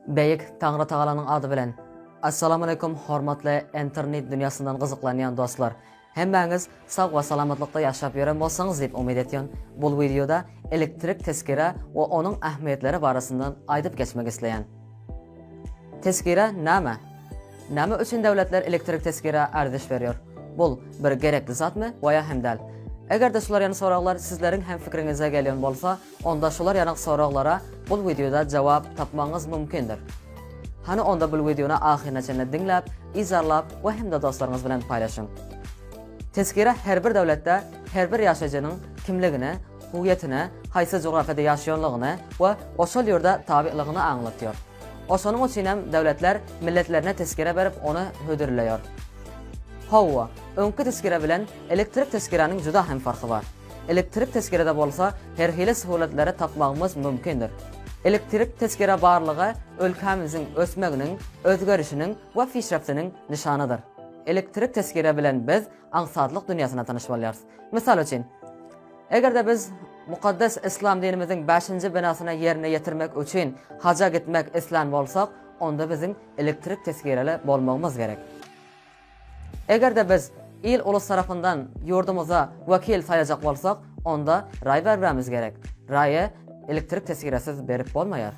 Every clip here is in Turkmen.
Beýik Taňrytagalanyň ady bilen. Assalamaleykum hormatly enternet dünýasyndan gyzyklanýan dostlar. Hemmäňiz sag we salamatlykda ýaşap ýören bolsaňyz diýip umyt etýän. Bul wideoda elektrik tezkere we onuň ähmiýetleri barasyndan aýdyp geçmek isleýän. Tezkere näme? Näme üçin döwletler elektrik tezkere arziş berýär? Bul bir gerekli zatmy we ýa hem däl? Eger-de şular ýaly soraglar sizleriň hem fikriňize gelýän bolsa, Onda şular ýalyk soraglara bul wideoda jogap tapmagyňyz mümkindir. Hany onda bul wideony ahyryna çenli diňläp, yzarlap we hem-de dostlaryňyz bilen paýlaşyň. Tezkire her bir döwletde her bir ýaşaýjynyň kimligini, huwyýetini, haýsy jografyýada ýaşaýanlygyny we oşol ýurda tabylygyny aňlatýar. Oşonuň üçin hem döwletler milletlerine tezkire berip ony hödürleýär. Howwa, öňki tezkire bilen elektrik tezkiräniň juda hem farky bar. Elektrik tezkerede bolsa her hili söhulletlere tapmagymyz mümkindir. Elektrik tezkere barlygy ölkämiziň ösmeginiň, özgerişiniň we pişreptiniň nyşanydyr. Elektrik tezkere bilen biz aňsatlyk dünýäsine tanyş bolýarys. Mysal üçin, eger-de biz mukaddes Yslam dinimiziň bäşinji binasyny ýerine ýetirmek üçin haja gitmek islän bolsak, onda biziň elektrik tezkereli bolmagymyz gerek. Eger-de biz il-ulus tarapyndan ýurdumyza wekil saýlajak bolsak, onda raý bermemiz gerek. Raýy ilktirik tesgiresiz berip bolmaýar.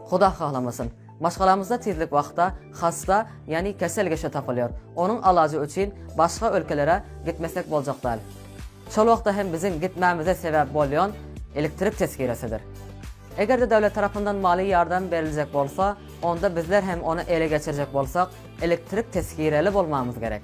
Huda hahlamasyn, maşgalamyzda tizlik wagtda hassa, ýagny kesel kişi tapylýar, onuň alajy üçin başga ülkelere gitmesek boljak däl. Şol wagtda hem biziň gitmämize sebäp bolýan ilktirik tesgiresidir. Eger-de döwlet tarapyndan maliýe ýardam beriljek bolsa, onda bizler hem ony ele geçirjek bolsak, elektrik tesgireli bolmamyz gerek.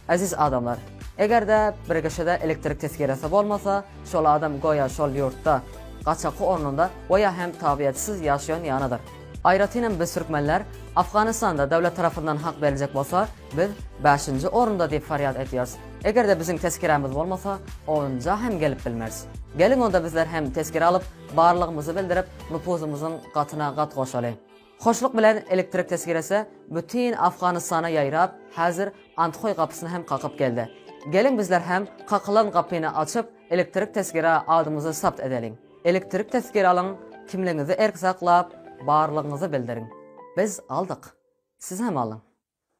Eziz adamlar, eger-de bir kişide elektrik tesgiresi bolmasa, şol adam goýa şol ýurtda, gaçaky ornunda goýa hem tabyýetsyz ýaşaýan ýalydyr. Aýratyn hem biz türkmenler, Afganistanda döwlet tarapyndan hak beriljek bolsa, biz bäşinji orunda diýip farýat edýäris. Eger-de biziň tesgirämiz bolmasa, onunja hem gelip bilmeris. Geliň onda bizler hem tesgire alyp, Barlygymyzy bildirip, nupuzymyzyň gatyna gat goşaly. Hoşluk bilen elektrik tesgiresi bütin Afganystana ýaýrap, häzir Anthoý gapysyna hem kakyp geldi. Geliň bizler hem kakylan gapyny açyp, elektrik tesgira adymyzy sapt edeliň. Elektrik tesgir alyň, kimligiňizi erk saklap, barlygyňyzy bildiriň. Biz aldyk. Siz hem alyň.